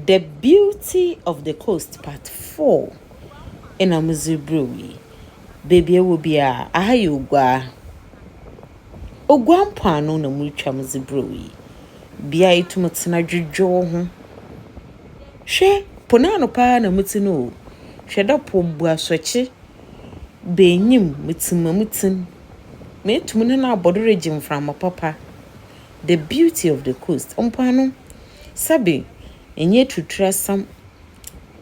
The Beauty of the Coast Part Four na medze rebrɛ wo yi. Beebi a ewɔ biara, aha yɛ Oguaa. Oguaa mpoano na morutwa medze brɛ wo yi. Bea a itum tsena dwedwe wo ho. Hwɛ, po n'ano paa na metse no o. Hwɛ dɛ po mbu asɔkye ba enyim, metsim ma mutsim. Meetum ne no abɔ do regye mframa papa. The Beauty of the Coast, Mpoano, sɛbe, ɛnyɛ aturuturasɛm,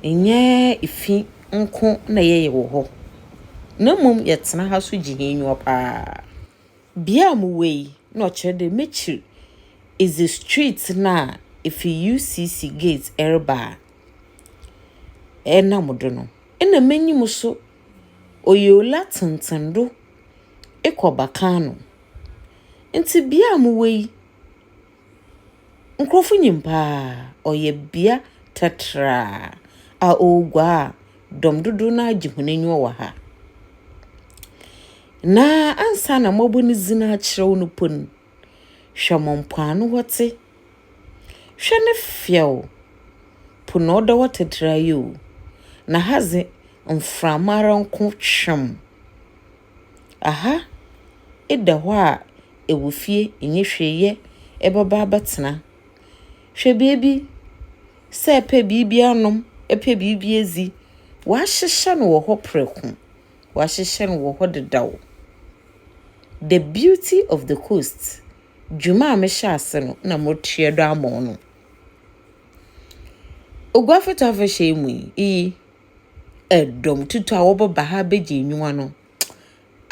ɛnyɛ fi nko na yɛyɛ wɔ hɔ, na mmom yɛtena ha nso gye hɛn enyiwa paa. Bea a mowɔ yi, nna ɔkyerɛ dɛ m'ekyir edze street no a efi UCC gate reba a ɛnam do no, nna m'enyim so ɔyɛ owla tsentsen do ekɔ Bakano. Ntsi bea a mowɔ yi, nkorɔfo nyim paa. Ɔyɛ bea tratraa a oguaa a dɔm dodow no ara gye hɔn enyiwa wɔ ha. Na ansaana mɔbɔ ne dzin akyerɛw no mpo no, hwɛ ma mpoano hɔ tse. Hwɛ ne fɛw, po na ɔda hɔ tratraa yi o. Na ha dze, mframa ara nko tweɔn. Aha da hɔ a ewɔ fie nnyi hwee yɛ ebɛba abɛtsena. Hwɛ beebi, sɛ epɛ biribi anom, epɛ biribi edzi, wɔahyehyɛ no wɔ hɔ prɛko, wɔahyehyɛ no wɔ hɔ dedaw. The Beauty of the Coast, dwuma a mehyɛɛ ase no na motoa do ama wo no. Oguafi Tafahyɛ yi mu yi, iyi. dɔm tutu a wɔbɛba ha abɛgye enyiwa no,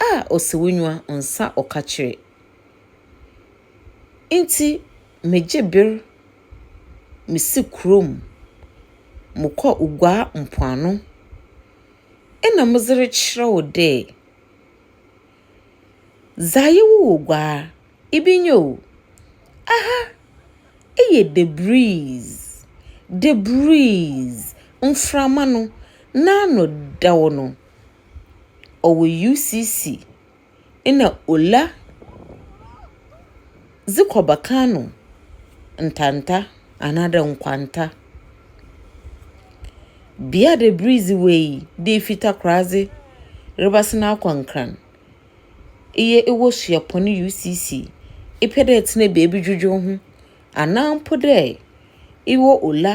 ah, Osewonyiwa nsa ɔkakyire. Nti megye ber mesi kurom, mokɔ Uguaa mpoano, nna medze rekyerɛ wo dɛ. Dza yewu wɔ gua a, ibi nye o. Aha, eyɛ debris, debris, mframa no n'ano dɛw no. Ɔwɔ UCC na Ola. dze kɔ bɛkã no ntanta anaadɛ nkwanta. Bia dɛ ber yi dze wei dɛ ifi Takoradze rebɛsen akɔ Nkran, eyɛ ewɔ Suapɔn UCC, epɛ dɛ etsena beebi dwedwe woho, anaa mpo dɛ ewɔ Ola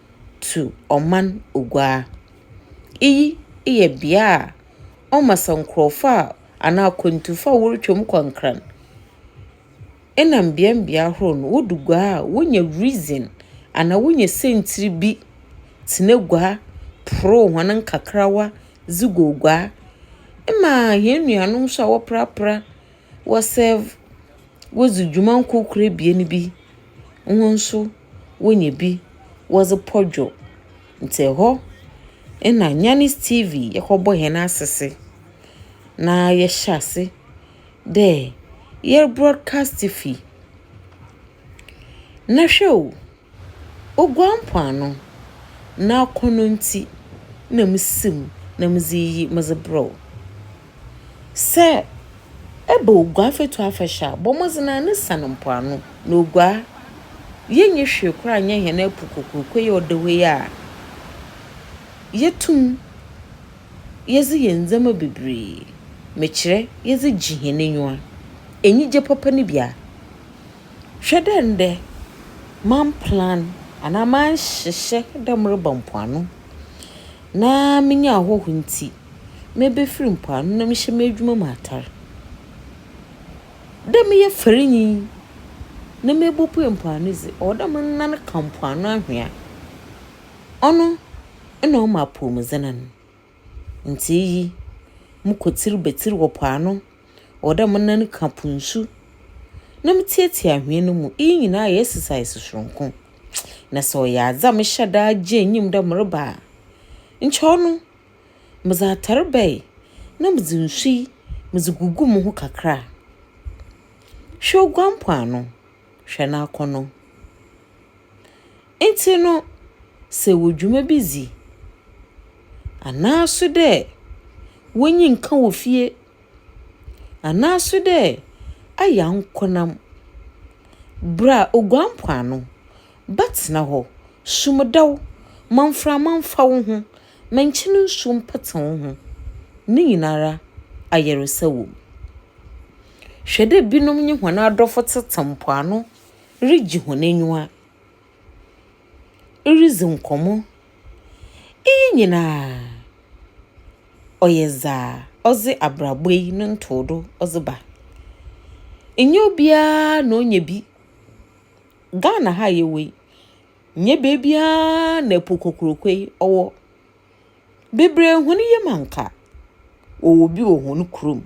tu ɔman oguaa. Iyi yɛ bea a ɔma sɛ nkorɔfo a anaa akwantufo a worutwa mu kɔ nkran na mbeambea horow no wodu guaa a wonya reason anaa wonya siantsir bi tsena guaa porow hɔn nkakrawa dze gu oguaa. Mma hɛn nuanom so a wɔprapra. wɔserve, wodzi dwuma nkorkor ebien bi, hɔn so wonya bi wɔdze pɔ dwo. Ntsi hɔ na Nyanis TV yɛkɔbɔ hɛn asese na yɛhyɛ ase dɛ yɛro broadcast fi. Na hwɛ o! Oguan mpoano, na akɔnnɔ ntsi na misi mu na medze iyi medze brɛ wo. Sɛ eba Oguaa Fatu Afahyɛ a, bɔ mbɔdzen ara na sian mpoano, na Oguaa, yennyi hwee koraa nnyɛ hɛn apu kokroko yi a ɔda hɔ yi a yetum yɛdze yɛ ndzɛmba beberee, mekyerɛ yɛdze gye hɛn enyiwa. Enyigye papa no bi a Hwɛ dɛ ndɛ mannplan anaa mannhyehyɛ dɛ mereba mpoano, na minya ahɔho ntsi, mebefir mpoano na mehyɛ m'edwuma mu atar. Dɛ meyɛ farinyi na mebopue mpoano dze, ɔwɔ dɛ menan ka mpoano anhwea. Ɔno na ɔma apɔwmudzen no. Ntsi iyi, mokɔ tsir betsir wɔ po ano Ɔwɔ dɛ mo nan ka po nsu na mitsiatsia anhwea no mu. Iyi nyina yɛ exercise soronko, na sɛ ɔyɛ adze a mehyɛ da gye enyim dɛ mereba a, nkyɛ ɔno medze atar bɛyɛ na medze nsu yi medze gugu moho kakra. Hwɛ oguan mpoano, hwɛ n'akɔnɔ. Ntsi no, sɛ ewɔ dwuma bi dzi anaaso dɛ w'enyi nnka wɔ fie Anaaso dɛ aya nkonam ber a oguan mpoano bɛtsena hɔ, sum da wo ma mframa mfa wo ho, ma nkyen nsu mpetse wo ho, ne nyinara ayarsa wɔ mu. Hwɛ dɛ binom nye hɔn adɔfo tsetse mpoano rigye hɔn enyiwa. iridzi nkɔmbɔ. Iyi nyina ɔyɛ dza ɔdze abrabɔ yi no ntowdo ɔdze ba. Nnyɛ obiara na onya bi. Ghana ha a yɛwɔ yi, nnyɛ beebiara na po kokroko yi ɔwɔ. Beberee hɔn yamu a nka wɔwɔ bi wɔ hɔn kurom.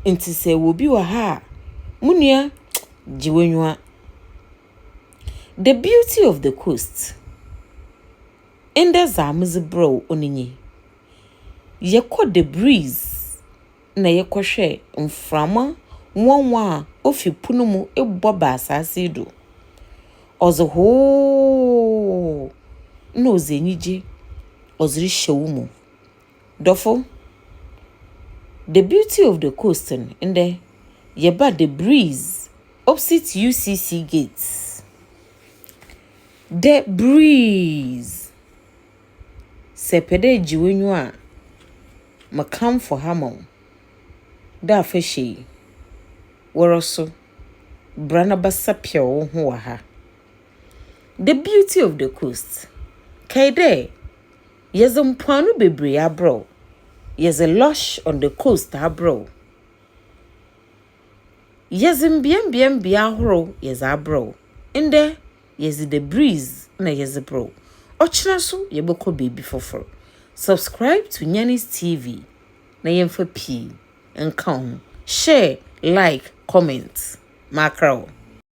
Ntsi sɛ ewɔ bi wɔ ha a, mo nua gye w'enyiwa. The beauty of the coast. Ndɛ dza medze brɛ wo nye yi. Yɛkɔ the breeze. na yɛkɔhwɛɛ mframa nwanwa a ofi po no mu bɔ ba asaase yi do. Ɔdze hoooo na ɔdze enyigye ɔdze rehyɛ wo mu. Dɔfo, The Beauty of the Coast no, ndɛ yɛba The Breeze opposite UCC gate. The Breeze! Sɛ epɛ dɛ egye w'enyiwa a. Mekamfo ha ma wo dɛ afahyɛ yi, wara so bra na bɛsapɛw wo ho wɔ ha. The Beauty of the Coast, Kae dɛ yɛdze mpoano beberee abrɛ wo, yɛdze Lush on the Coast abrɛ wo. Yɛdze mbeambea mbea ahorow yɛdze abrɛ wo. Ndɛ yɛdze The Breeze na yɛdze brɛ wo. Ɔkyena so yɛbɔkɔ beebi fofor. Subscribe to Nyanis TV na yɛmfa pii nka ho. Share, like, comment. Makra wo.